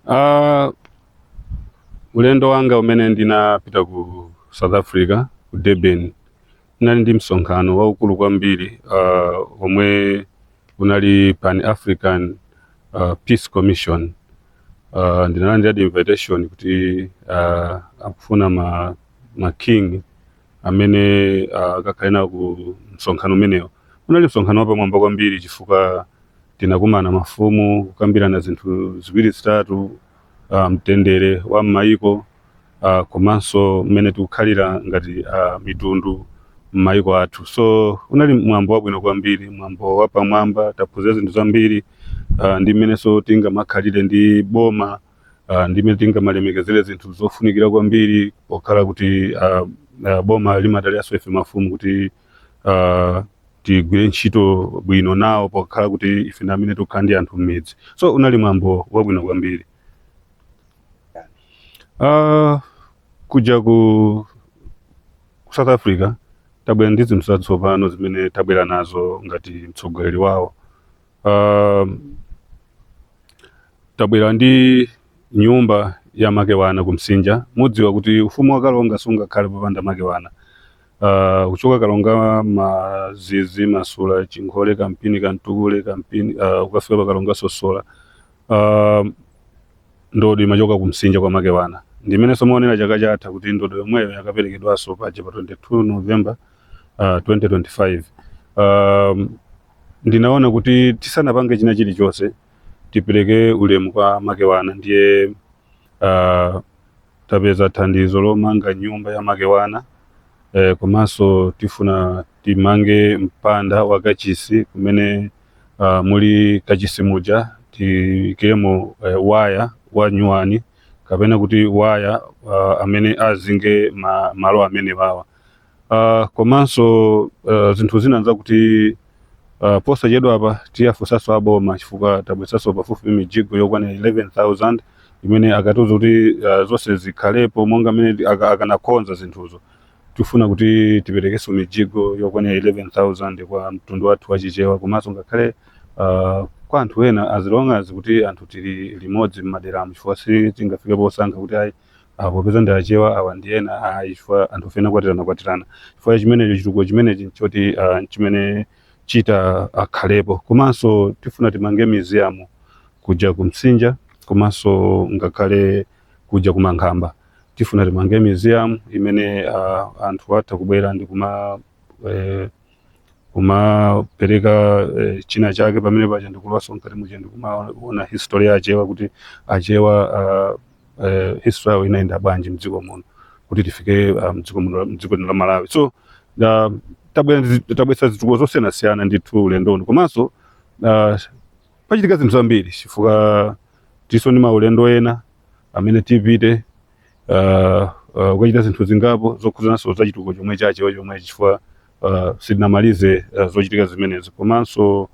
Uh, ulendo wanga umene ndinapita ku South Africa ku Durban unali msonkhano waukulu kwambiri uh, omwe unali Pan African uh, Peace Commission uh, ndinalandira invitation kuti uh, akufuna ma, ma king amene ah, akakhale nawo ku msonkhano umenewo unali msonkhano wapamwamba kwambiri chifukwa tinakumana mafumu kukambirana zinthu ziwiri zitatu ah, mtendere wa m'mayiko ah, komanso mmene tikukhalira ngati ah, mitundu m'mayiko athu so unali mwambo wabwino kwambiri mwambo wapamwamba taphunzira zinthu zambiri ah, ndi mmenenso tingamakhalire ndi boma uh, ndi mmene tingamalemekezere zinthu zofunikira kwambiri pokhala kuti uh, uh, boma limadaliranso ife mafumu kuti uh, tigwire ntchito bwino nawo pokhala kuti ife ndi amene tikukhala ndi anthu m'midzi so unali mwambo wabwino kwambiri uh, kuja ku ku south africa tabwera ndi zinthu zatsopano zimene tabwera nazo ngati mtsogoleri wawo Uh, tabwera ndi nyumba ya makewana kumsinja mudziwa kuti ufumu wa kalonga sungakhale popanda makewana uh, kuchoka kalonga mazizi masula chinkhole kampini kantukule kampini uh, ukafika pa kalonga sosola uh, ndodo imachoka kumsinja kwa makewana ndi mmenenso munaonera chaka chatha kuti ndodo yomweyo inakaperekedwanso paja pa 22 november uh, 2025 um, ndinaona kuti tisanapange china chilichonse tipereke ulemu kwa makewana ndiye uh, tapeza thandizo lomanga nyumba ya makewana eh, komanso tifuna timange mpanda wa kachisi kumene uh, muli kachisi muja tiikemo eh, waya wa nyuwani kapena kuti waya uh, amene azinge ma, malo amenewawa Uh, komanso uh, zinthu zina nzakuti uh, posachedwa apa tiwafunsanso aboma chifukwa tabweretsanso pafupi mijigo yokwana 11000 imene anatiuza kuti uh, zonse zikhalepo monga mmene ti- aka- akanakonza zinthuzo tifuna kuti tiperekenso mijigo yokwana 11000 kwa mtundu wathu wa chichewa komanso ngakhale uh, kwa anthu ena as long as kuti anthu tili limodzi m'maderamu chifukwa sitingafike posankha kuti ayi Ah, popeza ndi achewa awa ndi ena ayi chifukwa anthu ife tinakwatirana kwatirana chifukwa cha chimenecho chitukuko chimenechi nchoti ah, nchimene chitakhalepo komanso tifuna timange museum kuja kumsinja komanso ngakhale kuja ku mankhamba tifuna timange museum imene ah, anthu atha kubwera ndi kuma eh, kumapereka eh, china chake pamene paja ndikulowanso mkati muja ndikumaona history ya achewa kuti achewa ah, eh, history yawo inayenda bwanji mdziko muno kuti tifike ah, mdziko muno mdziko lino la malawi so ah, tabwera ndi zi- tabweretsa zitukuko zosiyanasiyana ndithu ulendo uno komanso ah, pachitika zinthu zambiri chifukwa tilinso ndi maulendo ena amene tipite uh, uh, kukachita zinthu zingapo zokhudzananso za chitukuko chomwe chachewa chomwe chifukwa uh, sitinamalize uh, zochitika zimenezi komanso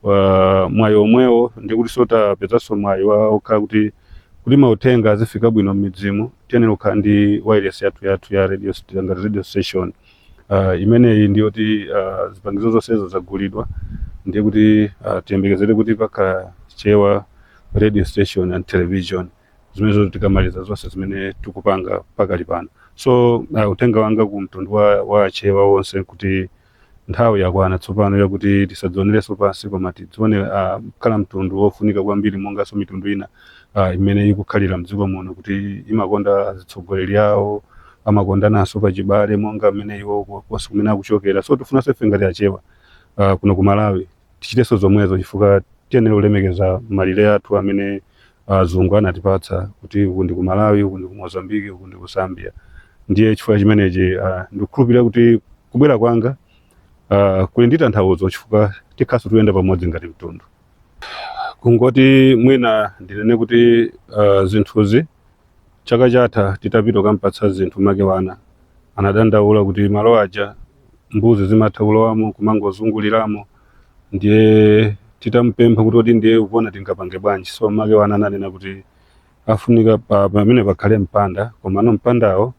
uh, mwayi omwewo ndikuti so tapezanso mwayi wokhala kuti kuti mauthenga azifika bwino m'midzimu tiyenera kukhala ndi wireless yathu yathu ya radio st- ngati radio station uh, imeneyi ndi yoti uh, zipangizo zonsezo zagulidwa ndiye kuti uh, tiyembekezere kuti pakhala chewa radio station and television zimenezo tikamaliza zonse zimene tikupanga pakali pano so uh, uthenga wanga ku mtundu wa, wa achewa wonse kuti nthawi yakwana tsopano yakuti tisadzionerenso pansi koma tidzione uh, kukhala mtundu wofunika kwambiri monganso mitundu ina uh, imene ikukhalira mdziko muno kuti imakonda azitsogoleri awo amakondananso pachibale monga mmene iwo konse kumene akuchokera so tifunanso ife ngati achewa uh, kuno ku malawi tichitenso zomwezo chifukwa tiyenera kulemekeza malire athu amene azungu anatipatsa kuti uku ndi ku malawi uku ndi ku mozambiki uku ndi ku zambia ndiye chifukwa chimenechi uh, ndikukhulupirira kuti kubwera kwanga uh, kuli ndi tanthauzo chifukwa tikhalanso tikuyenda pamodzi ngati mtundu kungoti mwina ndinene kuti uh, zinthuzi chaka chatha titapita kukampatsa zinthu makewana anadandaula kuti malo aja mbuzi zimatha kulowamo kumangozunguliramo ndiye titamupempha kuti kodi ndiye mukuona tingapange bwanji so makewana ananena kuti afunika pa- pamene pakhale mpanda komano mpandawo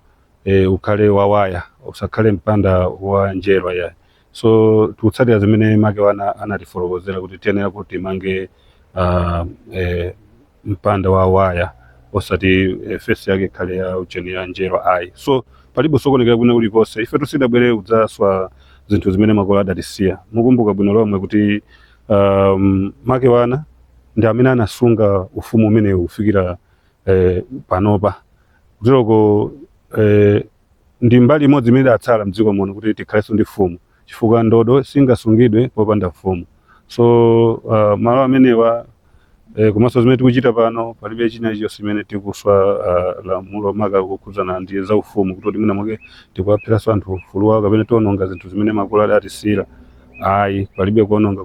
e, ukhale wawaya usakhale mpanda wa njerwa ya so tikutsatira zimene makewana anatifotokozera kuti tiyenera kuti timange uh, e, mpanda wa waya osati eh, fensi yake ikhale ya ujeni ya njerwa ayi so palibe kusokonekera kwina kulikonse ife sitidabwere kudzaswa zinthu zimene makolo adatisiyira mukumbuka bwino lomwe kuti um, makewana ndi amene anasunga ufumu umenewu kufikira eh, panopa kuteroko eh, ndi mbali imodzi imene idatsala mdziko muno kuti tikhalenso ndi mfumu chifukwa ndodo singasungidwe popanda mfumu so uh, malo amenewa eh, komanso zimene tikuchita pano palibe china chilichonse chimene tikuswa uh, lamulo maka kukhudzana ndi za ufumu kuti mwina mwake tikuwapheranso anthu ufulu wawo kapena tiononga zinthu zimene makolo adatisiyira ayi palibe kuononga